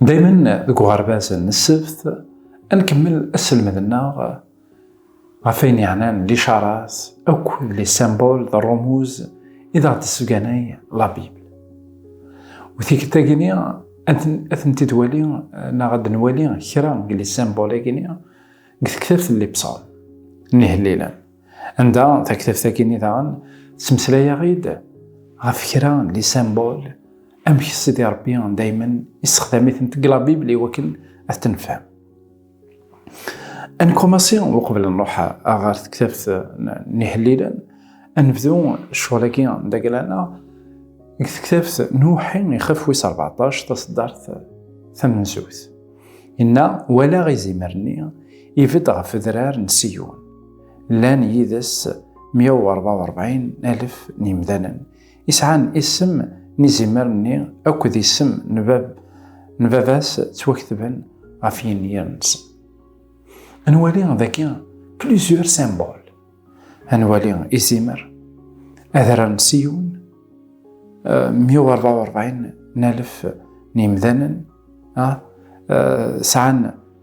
دايما deg uɣerbaz n ssebt nkemmel asselmed-nneɣ ɣef ayen yeɛnan licarat akk d les symboles d rrumuz i d aɣ-d-tessebganay la Bible. U tikkelt-agi-ni ad tent-id-wali neɣ ad nwali kra deg les symboles-agi-ni deg tektabt n les psaumes, n ihellilen. Anda taktabt-agi-nni daɣen, ttmeslayeɣ-id ɣef kra n lisambul amek Sidi Rebbi daymen issexdam-itent deg la Bible i wakken ad t-nefhem. Ad nkumassi uqbel nruḥ ɣer tektabt n Ihellilen, ad nebdu ccɣel-agi n dagla-nneɣ deg tektabt n Uwḥi ixef wis rbeɛṭac taṣeddart tamenzut. Inna, walaɣ izimer-nni ibedd ɣef udrar n Siyun. llan yid-s 144,000 n yimdanen i sɛan isem n izimer-nni akked isem n baba-s ttwaktben ɣef yinyir-nsen. Ad nwali dagi plusieurs symboles. Ad nwali izimer, adrar n Siyun, 144,000 n yimdanen sɛan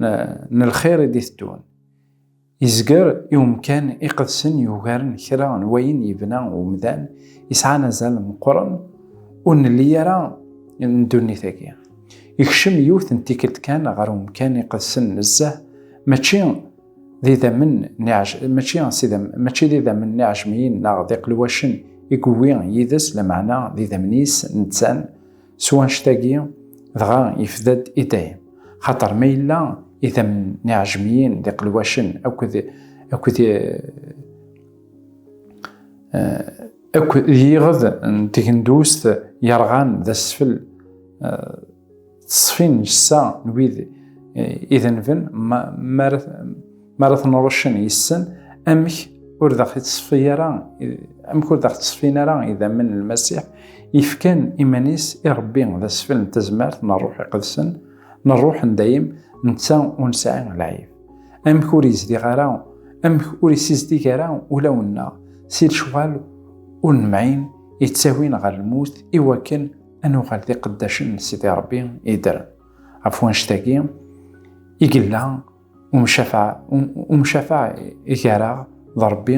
n lxir i d-iteddun. Yezger i umkan iqedsen yugaren kra n wayen yebna umdan yesɛan azal meqqren ur nelli ara n ddunit-agi. Ikcem yiwet n tikkelt kan ɣer umkan iqedsen nezzeh, mačči d idammen n iɛejmiyen neɣ d iqelwacen i yewwi yid-s, lameɛna d idammen-is nettan, S wanect-agi, dɣa yefda-d i dayem, xaṭer ma yella idammen n iɛejmiyen d iqelwacen akked akked akked d yiɣed n tegendust yerɣan d asfel teṣfin ssa n wid idenben ma Mi ara ten-ṛuccen yes-sen, amek ur d aɣ-ittṣeffi ara, amek ur d aɣ-tteṣfin ara idammen n Lmasiḥ, yefkan iman-is i Ṛebbi d asfel n tazmert n Ṛṛuḥ Iqedsen, n Ṛṛuḥ n dayem, netta ur nesɛi lɛib. Amek ur yezdiɣ ara, amek ur isizdig ara ulawen-nneɣ si lecɣal ur nemɛin yettawin ɣer lmut i wakken ad nuɣal d iqeddacen n Sidi Ṛebbi yeddren. Ɣef wannect-agi i yella umcafaɛ gar-aɣ d Ṛebbi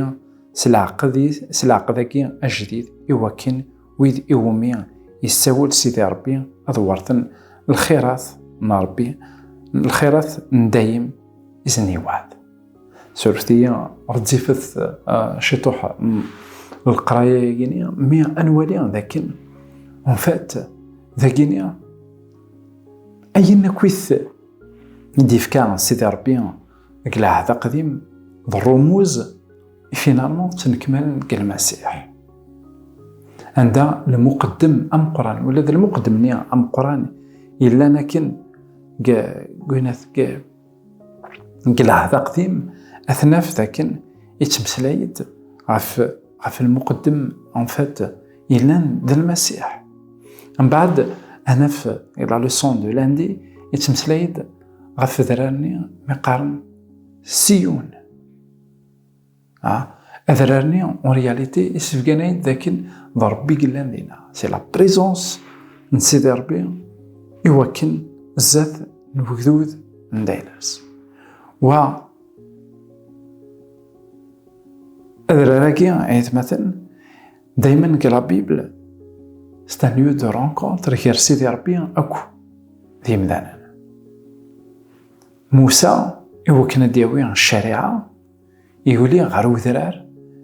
s leɛqed-agi ajdid, i wakken wid iwumi yessawel Sidi Ṛebbi ad weṛten lxirat n Ṛebbi, lxirat n dayem i sen-yewɛed. Surfet-iyi, ɣezzifet ciṭuḥ leqraya-agi-ni, mi ad nwali d akken, en fait, dagi-ni, ayen akk-it i d-ifka Sidi Ṛebbi deg Lɛahd Aqdim d ṛumuz i finalman ttnekmalen deg Lmasiḥ. Anda lmuqeddem ameqqran, ula d lmuqeddem-nni ameqqran yellan akken deg Lɛahd Aqdim ad t-naf d akken yettmeslay-d ɣef ɣef lmuqeddem en fait yellan d lmasiḥ mbaɛd anaf i la leçon de lundi yettmeslay-d ɣef adrar-nni mi qqaren siyun adrar-nni en réalité isebgan-ay-d dakken d Rebbi yellan dina c'est la présence n Sidi Rebbi iwakken zdat n ugdud n daynas wa Adrar-agi, ayetmaten, dayma deg la Bible, c'est un lieu de rencontre gar Sidi Rebbi akk d yimdanen. Musa, iwakken ad d-yawi ccariɛa, yuli ɣer udrar,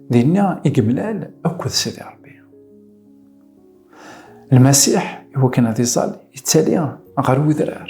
dinna i yemlal akk d Sidi Rebbi. Lmasiḥ, iwakken ad iẓal, yettali ɣer udrar.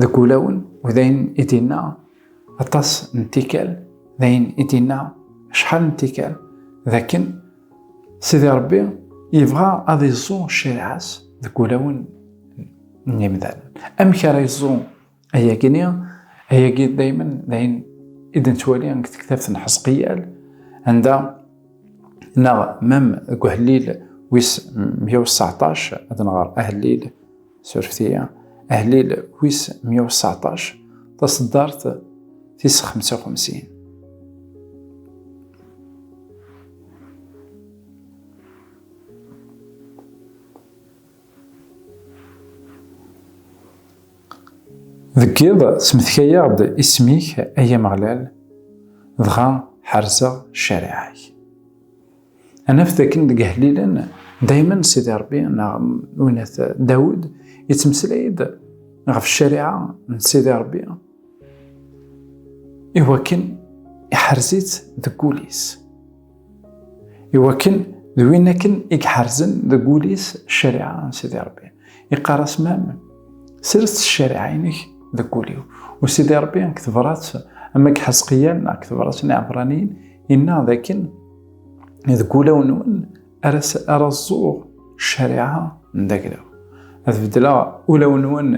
Deg wulawen u d ayen i d-inna aṭas n tikkal, d ayen i d-inna acḥal n tikkal, d akken Sidi Ṛebbi yebɣa ad iẓẓu ccariɛa-s deg wulawen n yimdanen. Amek ara iẓẓu ayagi-nni? Ayagi daymen d ayen i d-nettwali deg tektabt n Ḥezqiyal, anda neɣ mem deg uhellil wis meyya u seɛṭac, ad nɣer ahellil, Sureftiya, ahlil wis 119, taseddart tis 55. Deg iḍ smetkay-aɣ-d isem-ik ay Ameɣlal, dɣa ḥerzeɣ ccariɛa-k. Anaf dakken deg Ihellilen, daymen Sidi Rebbi neɣ Winat Dawed yettmeslay-d ɣef ccariɛa n Sidi Rebbi iwakken iḥerz-itt deg wul-is. Iwakken d win akken i iḥerzen deg wul-is ccariɛa n Sidi Rebbi. Iqqar-as mam, sres ccariɛa-inek deg wul-iw. U Sidi Rebbi deg tebrat ama deg Ḥezqiel neɣ deg tebrat n Iɛebraniyen yenna dakken deg ulawen-nwen ara ẓẓuɣ ccariɛa n daglaw ad beddleɣ ulawen-nwen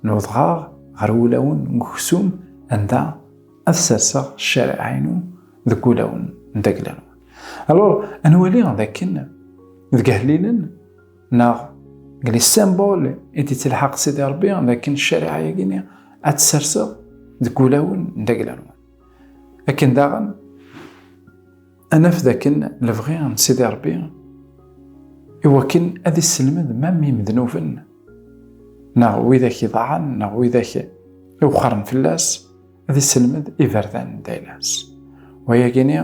n udɣaɣ ɣer ulawen n uksum anda ad serseɣ ccariɛa-inu deg ulawen n daglaw alors ad nwali d akken deg ahlilen neɣ deg les symboles i d-ittelḥaq Sidi Rebbi d akken ccariɛa-agi ad tserseɣ deg ulawen n daglaw akken daɣen anaf dakken lebɣi n Sidi Ṛebbi iwakken ad isselmed mam imednuben neɣ widak iḍaɛen neɣ widak iwqaren fell-as ad isselmed iberdan n daynas wayagini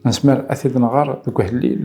nezmer ad t-id-nɣer deg uḥellil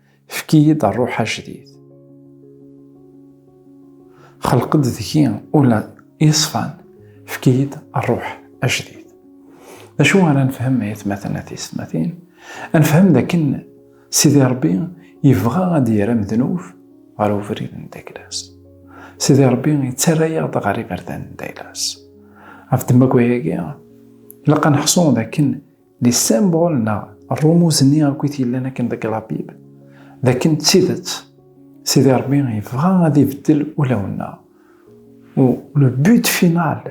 Efk-iyi-d rruḥ ajdid. Xelq-d deg-i ula yeṣfan, efk-iyi-d rruḥ ajdid. D acu ara nefhem ay atmaten a tiysetmatin? Ad nefhem d akken Sidi Ṛebbi yebɣa ad d-yerr amednub ɣer ubrid n Daylas. Sidi Ṛebbi yettarra-aɣ-d ɣer iberdan n Daylas. Ɣef ddemma n wayagi, ilaq ad neḥṣu d akken Les symboles neɣ rrumuz-nni akk i t-yellan akken deg la Bible, d akken d tidet Sidi Ṛebbi yebɣa ad ibeddel ulawen-nneɣ. U le but final,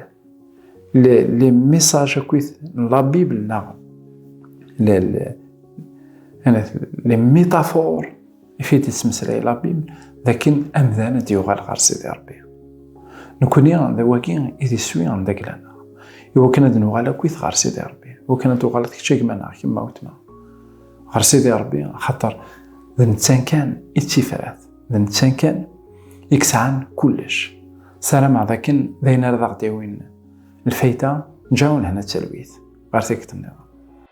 le les messages akkit n la Bible neɣ le les métaphores ifit yettmeslay labib d akken amdan ad yuɣal ɣer sidi rebbi nekni d awagi i d iswi n daglaneɣ iwakken ad nuɣal akkit ɣer sidi rebbi iwakken ad tuɣaleḍ kečč agmaneɣ kemm awetma ɣer sidi rebbi xaṭer d nettan kan i d tifrat d nettan kan i yesɛan kullec sarameɣ d akken d ayen ara d aɣ-d-yawin lfayda nǧawen hna talwit ɣer tikkelt-nniḍen